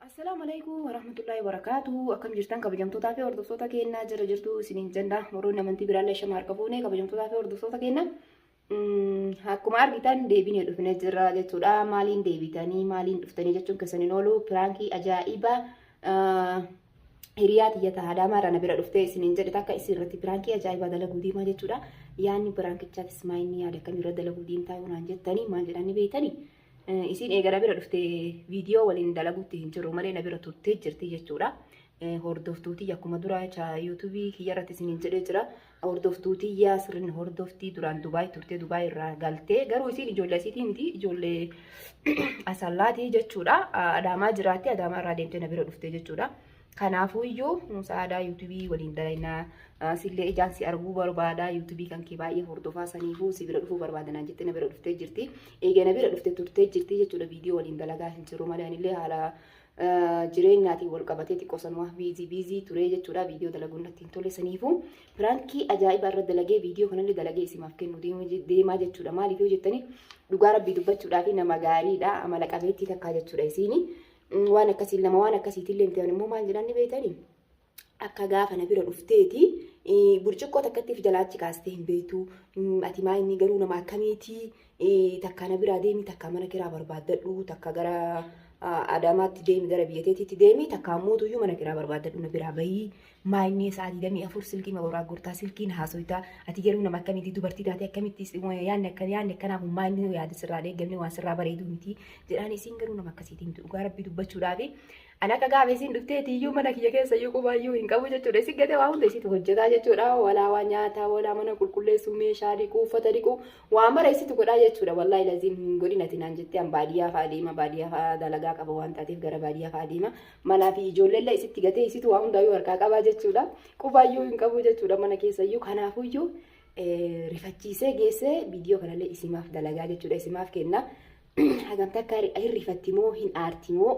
Assalaamu alaikum warahmatullahi wabarakatuh. Akkam jirtan kabajamtootaa fi hordoftoota keenyaa jira jirtu isiniin jenna. Moroonni amantii biraallee shama harka fuune kabajamtootaa fi hordoftoota keenyaa. Akkuma argitan deebinee dhufne jirra jechuudha. Maaliin deebitanii maaliin dhuftanii jechuun keessan hin oolu. Piraankii ajaa'iba hiriyaa tiyya ta'a daamaarra na bira dhuftee isin hin jedhe takka isin irratti piraankii ajaa'iba dalaguu deemaa jechuudha. Yaanni piraankichaatis maa inni yaada akkamii irra dalaguu deemtaa yoo naan jettanii maal jedhanii beektanii? Isin eega na bira dhuftee viidiyoo waliin dalaguutti hin jiru malee na bira turtee jirti jechuudha. Hordoftuutii akkuma dura yuutuubii kiyyarratti isin hin jedhee jira. Hordoftuu tiyyaa sirrin hordoftii duraan Dubaay turtee Dubaay irraa galtee garuu isiin ijoollee asiitii miti ijoollee asallaatii jechuudha adaamaa jiraatti adaamaa irraa deemtee na bira dhuftee jechuudha. Kanaafuu iyyuu sa'aadaa yuutubii waliin dalaynaa sillee ijaan si arguu barbaada yuutubii kan kee baay'ee hordofaa saniifuu si bira dhufuu barbaadanaa jettee na bira dhuftee jirti. Eega na bira dhuftee turtee jirti jechuudha viidiyoo waliin dalagaa hin jiru malee anillee haala jireenyaatiin wal qabatee xiqqoo sanumaa biizii biizii turee jechuudha viidiyoo dalaguun natti hin tole saniifuu piraankii ajaa'ibaa irra dalagee viidiyoo kanallee dalagee isimaaf kennu deemaa jechuudha maaliif yoo jettanii dhugaa rabbii dubbachuudhaa fi nama gaariidha amala qabeettii takkaa jechuudha isiini waan akkasiin nama waan akkasiitiin leemti'an immoo maal jedhan ni beektanii akka gaafa na bira dhufteeti burcuqqoo takkatti of jalaa achi kaastee hin beektu ati maa inni garuu nama akkamiiti takka na biraa deemi takka mana kiraa barbaaddadhu takka gara adaamaatti deemi gara biyya teetiitti deemi takka ammoo tuyyuu mana kiraa barbaaddadhu na biraa bahii maa inni sa'a digdamii afur silkii ma boraa gurtaa silkiin haasoytaa ati garuu nama akkamiiti dubartii taate akkamitti yaanni akka yaanni akkanaa kun maa inni yaada sirraa deeggamne waan sirraa bareeduu miti jedhaan isiin garuu nama akkasiitiin dhugaa rabbii dubbachuudhaafi Ani akka gaafa isiin dhufteeti iyyuu mana kiyya keessa iyyuu qubaa iyyuu hin qabu jechuudha. Isin gatee waa hunda isiitu hojjetaa jechuudha. Walaa waa nyaataa, walaa mana qulqulleessuu, meeshaa dhiquu, uffata dhiquu, waa mara isiitu godhaa jechuudha. Wallaahi laziim hin godhin ati naan jettee an baadiyyaa fa'a deema, baadiyyaa fa'a dalagaa qaba waan taateef gara baadiyyaa fa'a deema. Manaa fi ijoolleellee isitti gatee isiitu waa hundaa iyyuu harkaa qabaa jechuudha. Qubaa iyyuu hin qabu jechuudha mana keessa iyyuu. Kanaafuu iyyuu rifachiisee geessee viidiyoo kanallee isimaaf dalagaa jechuudha. Isimaaf kenna. hagam takka hin rifatti moo hin aarti moo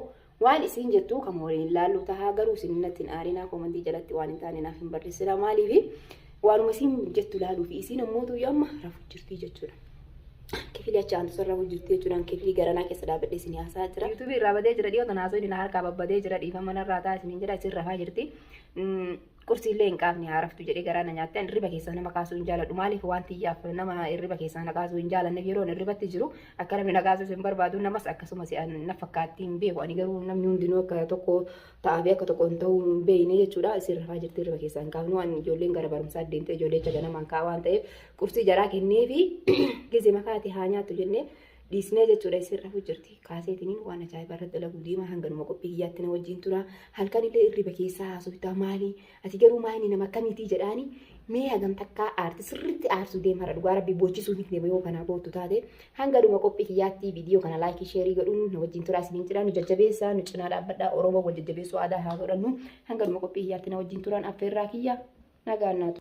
waan isin jettu kan waliin hin laallu tahaa garuu isin natti hin aarinaa koomantii jalatti waan hin taane naaf hin barreessina maaliifi waanuma isin jettu laaluu fi isin ammoo tuyyu amma rafu jirtii jechuudha. Kifili achi aantu sarara hojjirti jechuudhaan kifili garanaa keessa dhaabadhee isin haasaa jira. Yuutuubii irraa badee jira dhiyoo tanaa soo inni na harkaa babbadee jira dhiifama narraa ta'a isiniin jedha isin rafaa jirti. Qursiillee hin qaafne haa raftu jedhee garaa na nyaatte ani irriba keessaa nama kaasuu hin jaaladhu maaliif waan tiyyaaf nama irriba keessaa na kaasuu hin jaalanneef yeroon irribatti jiru akka namni na kaasuus hin barbaadu namas akkasumas na fakkaatti hin beeku ani garuu namni hundinuu akka tokko ta'aa fi akka tokko hin ta'uu hin beekne jechuudha isin rafaa jirti irriba keessaa hin kaafnu ani ijoolleen gara barumsaa deemte ijoollee jecha ganamaan ka'a waan ta'eef qursii jaraa kennee fi gizima kaate haa nyaattu jennee dhiisnee jechuudha isin rafu jirti kaaseetiniin waan ajaa'ibaa irratti dalagu deemaa hanganuma qophii kiyyaatti na wajjin tura halkan illee irriba keessaa haasoftaa maali ati garuu maayini nama akkamiitii jedhaani mee hagam takkaa aarti sirriitti aarsuu deemarra dhugaa rabbi boochisuu hin deema yoo kanaa boottu taate hanganuma qophii kiyyaatti viidiyoo kana laayikii sheerii godhuun na wajjin tura isiniin jedhaa nu jajjabeessaa nu cinaa dhaabbadhaa oromoo wal jajjabeessuu aadaa haa godhannu hanganuma qophii kiyyaatti na wajjin turaan affeerraa kiyya nagaan naatu.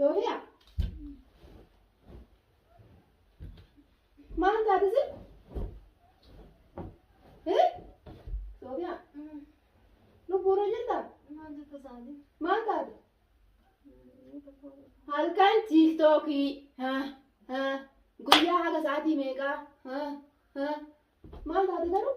Yoohiya. Maal taate sin? Eh? Soofiya. Lubbuurra jirta? Maal taate? Halkan tiiktookii. Ha, ha. Guyyaa haga sa'aatii meeqaa? Ha, ha. Maal taate garuu?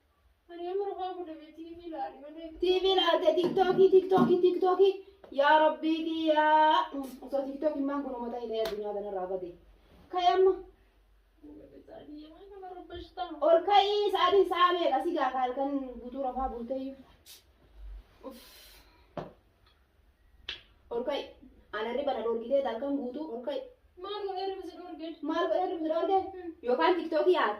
Ani amma rafaa fuudhe bee TV ilaali malee. TV ilaalte tiktookii tiktookii tiktookii yaa rabbii kiyyaa osoo tiktookiin maan kun uummata hidhee addunyaa kanarraa bade ka'e amma ol ka'ii sa'aatiin sa'a meeqa si gaaka halkan guutuu rafaa bulteeyyu ol ka'i ana hirriba na dhorgitee halkan guutuu ol ka'i maal godhee hirriba si dhorge yookaan tiktookii yaada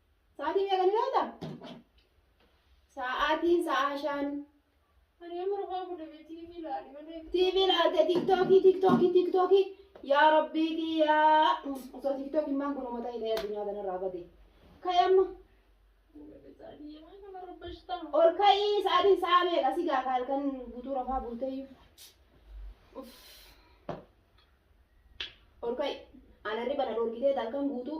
Sa'aatii meeqa ni beekta? Sa'aatiin sa'aa shan. Ani amma rafaa fuudhe bee TV ilaali malee. TV ilaalte tiktookii tiktookii tiktookii yaa rabbii kiyyaa osoo tiktookiin maan kun uummata hidhee addunyaa kanarraa bade. Ka'e amma ol ka'ii sa'aatiin sa'aa meeqa si gaafa halkan guutuu rafaa bulteeyyu. Uff. Ol ka'i. Ana hirriba na dhorkitee halkan guutuu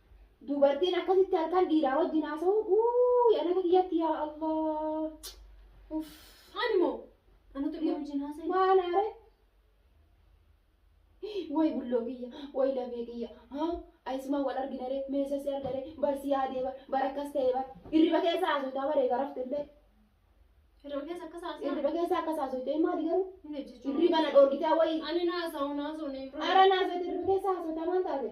Dubartiin akkasitti halkan dhiiraa wajjin haasa'u uuy an akka kiyyatti yaa Allah. Uff. Ani moo anatu dhiira wajjin haasa'e. Maal aare? Way bulloo kiyya, way lafee kiyya. Haa ayisumaan wal argina ree, meesha si arga ree, bar si yaadee bar, bar akkas ta'e bar. Hirriba keessa haasoftaa baree garafte illee. Hirriba keessa akkas haasa'e. Hirriba keessa akkas haasofte maali garuu? Hin hojjechu. Hirriba na dhoorgitaa way. Ani naasa'u naasa'u ni Ara naasofte hirriba keessa haasoftaa maal taate?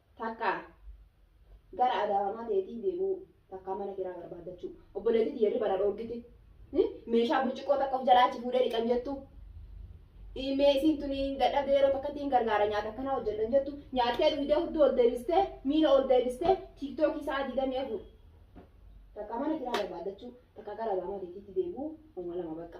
Takkaa gara adaamaa teetii deebi'uu takkaa mana kiraa barbaaddachuu obboleettii tiyya irriba na dhoorgite meeshaa burcuqqoo takka of jalaa achi fuudhee dhiqan jettu mee isiin tuni dadhabdee yeroo takkatti hin gargaara nyaata akkanaa hojjedhan jettu nyaattee dhuydee hudduu ol deebistee miila ol deebistee tiiktookii sa'a digdamii afur takkaa mana kiraa barbaaddachuu takkaa gara adaamaa teetiitti deebi'uu uma lama bakka.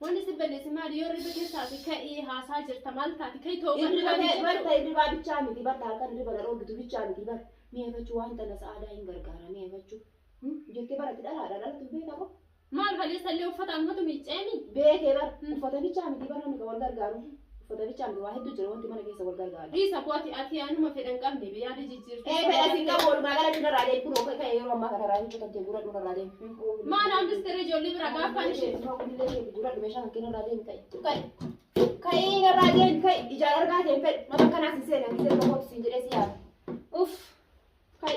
Wanni si balleesse maali? Yoo irriba keessa ati ka'ii haasaa jirta maal taati? Ka'ii tooba Irriba irraa ta'e dhiisu bar ta'e ta'u. irribaa bichaa miti bar halkan irriba na dhoorgitu bichaa miti bar mee efachu waan tana sa'aadaa hin gargaara mee efachu Hmm? jettee bar ati dhalaadha dhalatu hin beekta moo Maal kaleessa illee uffata anumatu miicceemi? beekee bar Hmm. uffata bichaa miti bar namni kan wal gargaaru Uffata bichaa miti waa hedduu jira wanti mana keessa wal gargaaru. Dhiisa kooti ati anuma fedhan qabne biyyaada jijjiirte. Ee fedha sin qabu walumaa galatti narraa deemi kunoo ka'e ka'e yeroo ammaa kana raayii kutan kee guuradhu narraa deemi. Maal hambistee ijoollee bira gaafan ishee. Kunillee kee guuradhu meeshaa kan kee narraa deemi ka'e ka'e. Ka'ii narraa deemi ka'e ijaan argaa kee hin fedhu nama akkanaas hin seena hin seena kooti siin jedhee si yaada. Uff ka'e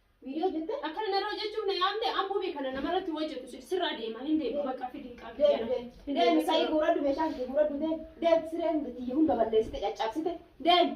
Video jette akkana narra hojjechuuf na yaamte abbuu bee kana namarratti hojjetu si- sirraa deema hin deema bakka fidi hin qabu deem deem deem sa'ii guuradhu meeshaa kee guuradhu deem deem sireen biyya hunda balleessite caccabsite deem.